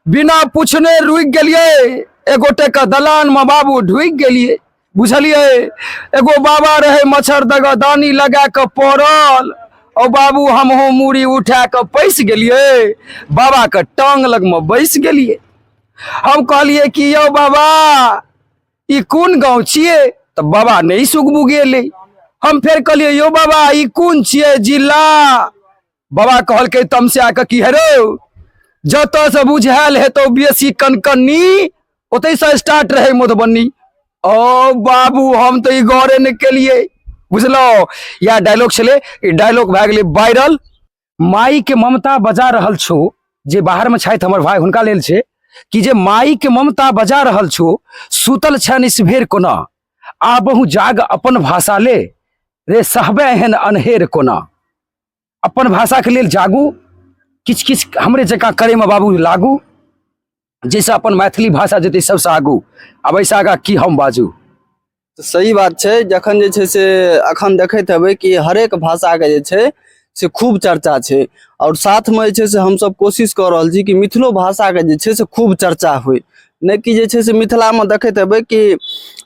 बिना पूछने रुकि गेलियै एगोटे के दलान में बाबू ढुकि गेलियै बुझलियै एगो बाबा रहे मच्छर दगा दानी लगा के पड़ल और बाबू हमहूँ मूड़ी उठा के पैस गेलियै बाबा के टांग लग में बैस गेलियै हम कहलियै कि यौ बाबा ई कोन गाँव छियै तऽ बाबा नहि सुगबू गेलै हम फेर कहलियै यौ बाबा ई कोन छियै जिला बाबा कहलकै तमस्या के की हेरो जतऽ से बुझायल हेतौ बेसी कनकन्नी ओतै से स्टार्ट रहै मधुबनी ओ बाबू हम तऽ ई गौरे ने केलिए बुझलहुँ इएह डायलॉग छलै ई डायलॉग भए गेलै वायरल माई के ममता बजा रहल छो जे बाहर में छथि हमर भाई हुनका लेल छै कि जे माई के ममता बजा रहल छो सुतल छन इसभेर कोना आबहु जाग अपन भाषा ले रे सहबे एहन अनहेर कोना अपन भाषाके लेल जागू किछु किछु हमरे जकाँ करैमे बाबू लागू जाहिसँ अपन मैथिली भाषा जेतै सभसँ आगू आब एहिसँ आगाँ की हम बाजू तऽ सही बात छै जखन जे छै से अखन देखैत हेबै कि हरेक भाषाके जे छै से खूब चर्चा छै आओर साथमे जे छै से हमसभ कोशिश कऽ रहल छी कि मिथिलो भाषाके जे छै से खूब चर्चा होय नहि कि जे छै से मिथिलामे देखैत हेबै कि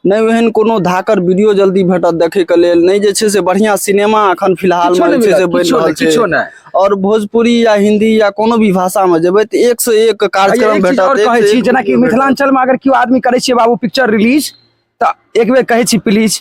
नहि ओहन कोनो धाकर वीडियो जल्दी भेटत देखैके लेल नहि जे छै से बढ़िआँ सिनेमा एखन फिलहालमे जे छै से बनि रहल छै आओर भोजपुरी या हिन्दी या कोनो भी भाषामे जेबै तऽ एक से एक कार्यक्रम भेटत जेनाकि मिथिलाञ्चलमे अगर केओ आदमी करै छियै बाबू पिक्चर रिलीज तऽ एक बेर कहै छी प्लीज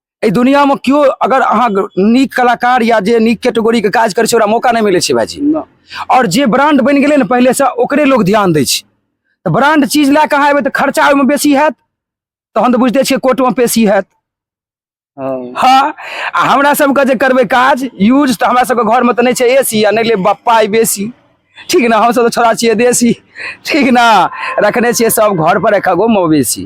एहि दुनियामे केओ अगर अहाँ नीक कलाकार या जे नीक कैटेगरीके काज करै छै ओकरा मौका नहि मिलै छै भाइजी आओर जे ब्रांड बनि गेलै ने पहिलेसँ ओकरे लोक ध्यान दै छै तऽ ब्रांड चीज लए कऽ अहाँ एबै तऽ खर्चा ओहिमे बेसी हैत तहन तऽ बुझिते छियै कोर्टमे पेशी हैत हँ हँ आ हमरा सबके जे करबै काज यूज तऽ हमरा सबके घरमे तऽ नहि छै ए सी आ नहि लेब पाइ बेसी ठीक ने हमसब तऽ छोड़ा छियै देसी ठीक ने रखने छियै सब घर पर एक गो मवेशी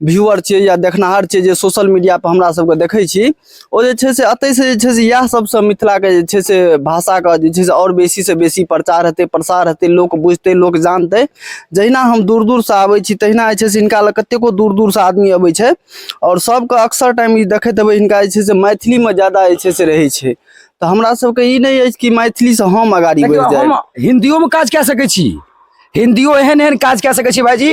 व्यूअर छियै या देखनाहर छियै जे सोशल मीडिया पर हमरा सबके देखै छी ओ जे छै से एतै से जे छै से इएह सबसँ मिथिलाके जे छै से भाषाके जे छै से आओर बेसी से बेसी प्रचार हेतै प्रसार हेतै लोक बुझतै लोक जानतै जहिना हम दूर दूर से आबै छी तहिना जे छै से हिनका लग कतेको दूर दूर से आदमी अबै छै आओर सबके अक्सर टाइम ई देखैत हेबै हिनका जे छै से मैथिलीमे ज्यादा जे छै से रहै छै तऽ हमरा सबके ई नहि अछि कि मैथिलीसँ हम अगाड़ी बढ़ि जाय हम हिन्दियोमे काज कए सकै छी हिन्दियो एहन एहन काज कए सकै छी भाइजी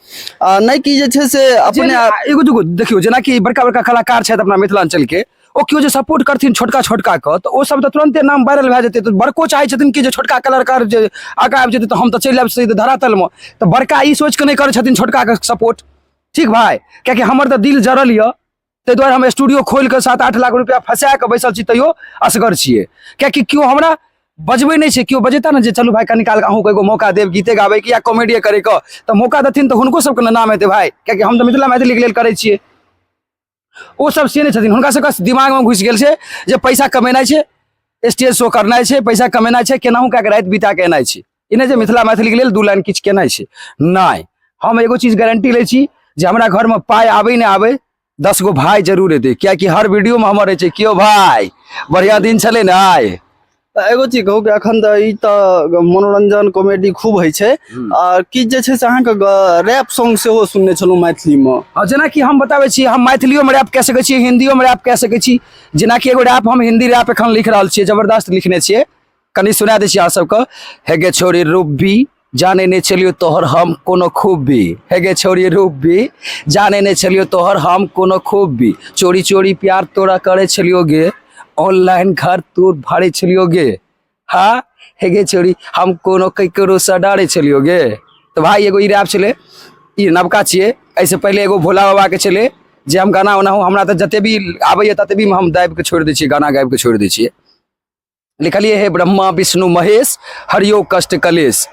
आ नहि कि जे छै से अपने जेना- आप एगो दूगो देखियौ जेनाकि बड़का बड़का कलाकार छथि अपना मिथिलांचल के ओ केओ जे सपोर्ट करथिन छोटका छोटका के तऽ ओ सब तऽ तुरंते नाम वायरल भए जेतै तऽ बड़को चाहै छथिन कि जे छोटका कलाकार जे आगा आबि जेतै तऽ हम तऽ चलि आबि सीधे धरातल मे तऽ बड़का ई सोचि कऽ नहि करै छथिन छोटका के सपोर्ट ठीक भाय कियाकि हमर तऽ दिल जरल यऽ ताहि दुआरे हम स्टूडियो खोलि कऽ सात आठ लाख रुपया फँसा कऽ बैसल छी तैयो असगर छियै कियाकि केओ हमरा बजबै नहि छै केओ बजेता ने जे चलू भाय कनि काल अहूँके एगो मौका देब गीते गाबैके या कॉमेडिए करैके तऽ मौका देथिन तऽ हुनको सबके ने नाम हेतै भाय कियाकि हम तऽ मिथिला मैथिलीके लेल करै छियै ओ सब से नहि छथिन हुनका सबके दिमागमे घुसि गेल छै जे पैसा कमेनाइ छै स्टेज शो करनाइ छै पैसा कमेनाइ छै केनाहू कए कऽ राति बिता कऽ एनाइ छै ई नहि जे मिथिला मैथिलीके लेल दू लाइन किछु केनाइ छै नहि हम एगो चीज गारंटी लै छी जे हमरा घरमे पाइ आबै नहि आबै दस गो भाय जरूर एतै कियाकि हर वीडियोमे हमर रहै छै कियो भाय बढ़िआँ दिन छलै ने आइ तऽ एगो चीज कहू कि अखन तऽ ई तऽ मनोरंजन कॉमेडी खूब होइ छै हम्म। आ किछु जे छै से अहाँके रैप सॉन्ग सेहो सुनने छलहुँ मैथिलीमे आ जेनाकि हम बताबै छी हम मैथिलियोमे रैप कए सकै छी हिन्दियोमे रैप कए सकै छी जेनाकि एगो रैप हम हिन्दी रैप एखन लिख रहल छियै जबरदस्त लिखने छियै कनि सुना दै छी अहाँ सबके हे गे छोरी रूबी जाने नहि छलियो तोहर हम कोनो खूबी हे गे छोरी रूबी जाने नहि छलियो तोहर हम कोनो खूबी चोरी चोरी प्यार तोरा करे छलियो गे ऑनलाइन घर तोर भाड़े छलियो गे हाँ हे गे छोरी हम कोनो ककरो से डरे छलियो गे तो भाई एगो ई रैप छलै ई नवका छियै एहिसँ पहिले एगो भोला बाबाके छलै जे हम गाना ओनाहु हमरा तऽ जते भी आबैए तते भी हम दाबिके छोड़ि दै छियै गाना गाबिके छोड़ि दै छियै लिखलिए हे ब्रह्मा विष्णु महेश हरियो कष्ट कलेश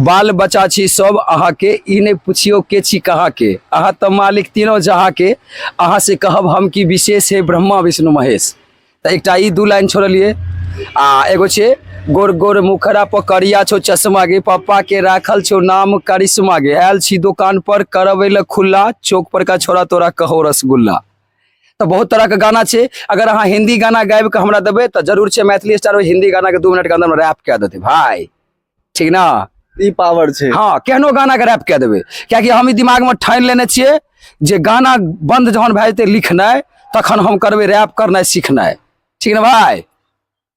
बाल बच्चा छी सब अहा के ई नहीं पूछियो के छी कहा के अहा तो मालिक तीनों जहा के अहा से कहब हम की विशेष है ब्रह्मा विष्णु महेश तो एक ई दू लाइन छोड़लिए आ एगो छे गोर गोर मुखरा पर करिया छो चश्मा गे पप्पा के राखल छो नाम करिश्मा गे आयल छी दुकान पर करबे खुला चौक पर का छोरा तोरा कहो रसगुल्ला तऽ बहुत तरहके गाना छै अगर अहाँ हिन्दी गाना गाबि कऽ हमरा देबै तऽ जरूर छै मैथिली स्टार ओहि हिन्दी गानाके दू मिनटके अन्दरमे रैप कए देतै भाय ठीक ने ई पावर छै हँ केहनो गानाके रैप कए देबै किएकि हम ई दिमागमे ठानि लेने छियै जे गाना बन्द जहन भए जेतै लिखनाइ तखन हम करबै रैप करनाइ सिखनाइ ठीक ने भाय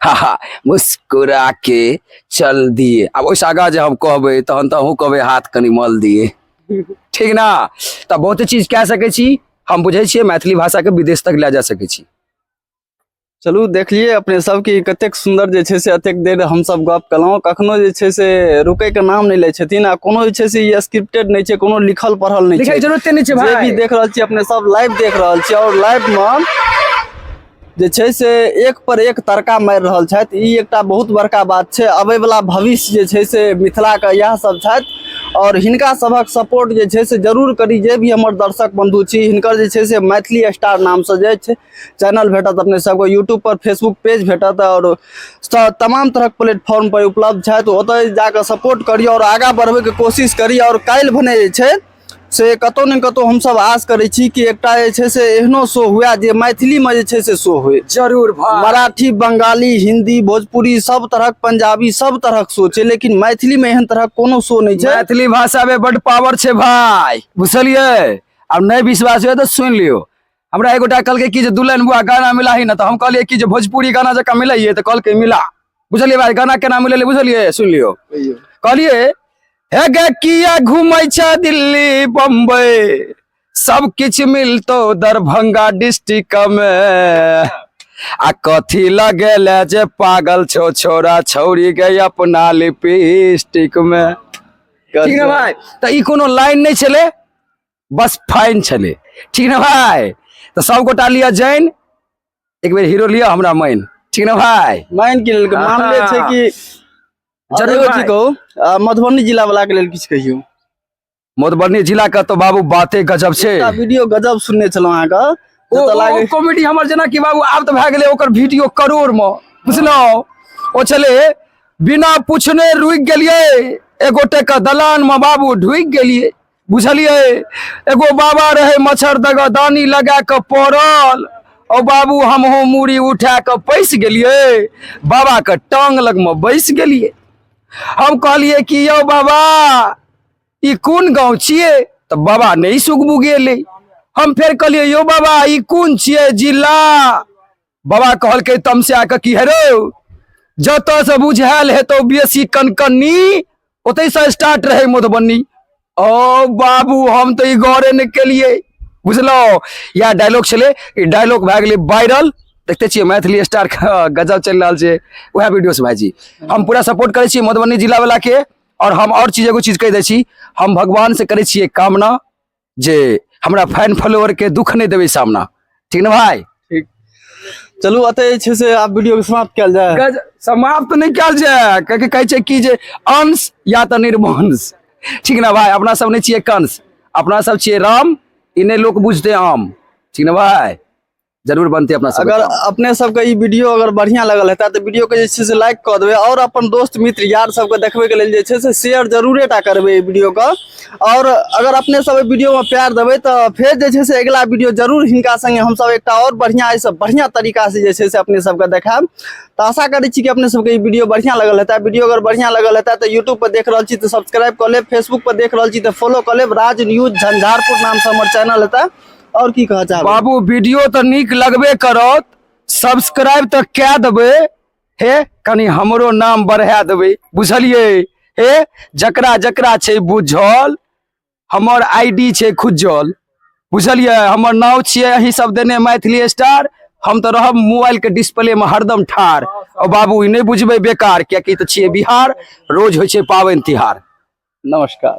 हा हा मुस्कुरा के चल दिए आब ओहिसँ आगाँ जे हम कहबै तहन तऽ अहूँ कहबै हाथ कनि मल दिए ठीक ने तऽ बहुते चीज कए सकै छी हम बुझै छियै मैथिली भाषाके विदेश तक लए जा सकै छी चलू देखलिए अपने सब की कते सुंदर जे छे से अतेक देर हम सब गप कलौ कखनो जे छे से रुके के नाम नहीं ले छथिन आ कोनो जे छे से ये स्क्रिप्टेड नहीं छे कोनो लिखल पढ़ल नहीं छे लिखै जरूरत नहीं छे भाई जे भी देख रहल छी अपने सब लाइव देख रहल छी और लाइव में जे छै से एक पर एक तड़का मारि रहल छथि ई एकटा बहुत बड़का बात छै अबैवला भविष्य जे छै से मिथिलाके इएह सब छथि आओर हिनका सभक सपोर्ट जे छै से जरूर करी जे भी हमर दर्शक बंधु छी हिनकर जे छै से मैथिली स्टार नामसँ जे छै चैनल भेटत अपने सबके यूट्यूब पर फेसबुक पेज भेटत आओर तमाम तरहक प्लेटफॉर्म पर उपलब्ध छथि ओतय जाकऽ सपोर्ट करी आओर आगाँ बढ़बैके कोशिश करी आओर काल्हि भने जे छै से कतहु ने कतहु हमसभ आश करै छी कि एकटा जे छै से एहनो शो हुए जे मैथिलीमे जे छै से शो होय जरूर भाई मराठी बंगाली हिंदी भोजपुरी सब तरहक पंजाबी सब तरहक शो छै लेकिन मैथिली में एहन तरहक कोनो शो नहि छै मैथिली भाषा में बड पावर छै भाई बुझलियै आब नहि विश्वास हुए तऽ सुनि लियौ हमरा एगो टा कहलकै कि जे दुल्हन बुआ गाना मिला ही ना तो हम कहलिए कि जे भोजपुरी गाना जका मिला ही तो कहलकै मिला बुझलिए भाई गाना केना मिले बुझलिए सुन लियो कहलिए हे गे किया घूमै छ दिल्ली बम्बई सब किछ मिलतो दरभंगा डिस्ट्रिक्ट में आ कथी लगे ले जे पागल छो छोरा छौरी गई अपना लिपस्टिक में ठीक ना भाई तो ई कोनो लाइन नहीं चले बस फाइन छलै ठीक ने भाय तऽ सब गोटा लिअ जैन एक बेर हीरो लिअ हमरा मैन ठीक ने भाय माइन के लेल के मामले छै कि जरूर जरूर भाई। जी कहू अ, मधुबनी जिला वाला के लेल किछु कहियौ मधुबनी जिला के तो बाबू बाते गजब छै एकटा वीडियो गजब सुनने छलहुँ अहाँके ओ जतऽ लागे कॉमेडी हमर जेना कि बाबू आब तऽ भए गेलै ओकर वीडियो करोड़ मे बुझलहुँ ओ छलै बिना पूछने रुकि गेलियै एगोटे के दलान मे बाबू ढुकि गेलियै बुझलियै एगो बाबा रहै मच्छर दगा दानी लगा कऽ पड़ल ओ बाबू हमहूँ मूड़ी उठा कऽ पैस गेलियै बाबाके टांग लगमे बैस गेलियै हम कहलियै कि यौ बाबा ई कोन गाँव छियै तऽ बाबा नहि सुगबू गेलै हम फेर कहलियै यौ बाबा ई कोन छियै जिला बाबा कहलकै तमस्या के की हेरो जतऽ से बुझायल हेतौ बेसी कनकन्नी ओतै से स्टार्ट रहै मधुबनी ओ बाबू हम तऽ ई गौरे ने केलिए बुझलहुँ इएह डायलॉग छलै ई डायलॉग भए गेलै वायरल देखते छियै मैथिली स्टार के गजब चलि रहल छै उएह वीडियो से भाईजी हम पूरा सपोर्ट करै छियै मधुबनी जिला वाला के और हम और चीज एगो चीज कहि दै छी हम भगवान से करै छियै कामना जे हमरा फैन फॉलोअर के दुख नहि देबै सामना ठीक ने भाई चलू अतः जे छै से आब वीडियो के समाप्त कयल जाय गज- समाप्त नहि कयल जाय कियाकि कहै छै कि जे अंश या तऽ निर्वंश ठीक ने भाई अपना सब नहि छियै कंस अपना सब छियै राम ई नहि लोक बुझते आम ठीक ने भाई जरूर बनते अपना सब अगर अपने सबके ई वीडियो अगर बढ़िया लगल हेता तऽ वीडियो के जे छै से लाइक कऽ देबै आओर अपन दोस्त मित्र यार सबके देखबै के लेल जे छै से शेयर जरूरे टा करबै ई वीडियो के आओर अगर अपने सब एहि वीडियो में प्यार देबै तऽ फेर जे छै से अगिला वीडियो जरूर हिनका संगे हमसब एकटा आओर बढ़िया एहिसँ बढ़िया तरीका से जे छै से अपने सबके देखायब तऽ आशा करै छी कि अपने सबके ई वीडियो बढ़िया लगल हेता वीडियो अगर बढ़िया लगल हेता तऽ यूट्यूब पर देख रहल छी तऽ सब्सक्राइब कऽ लेब फेसबुक पर देख रहल छी तऽ फॉलो कऽ लेब राज न्यूज झंझारपुर नाम से हमर चैनल हेता और की कह चाहब बाबू वीडियो तऽ नीक लगबे करत सब्सक्राइब तऽ कए देबै हे कनि हमरो नाम बढ़ा देबै बुझलियै हे जकरा जकरा छै बुझल हमर आईडी छै खुजल बुझलियै हमर नाव छियै अही सब देने मैथिली स्टार हम तऽ रहब मोबाइल के डिस्प्ले में हरदम ठार और बाबू ई नहि बुझबै बेकार कियाकि तऽ छियै बिहार रोज होइ छै पाबनि तिहार नमस्कार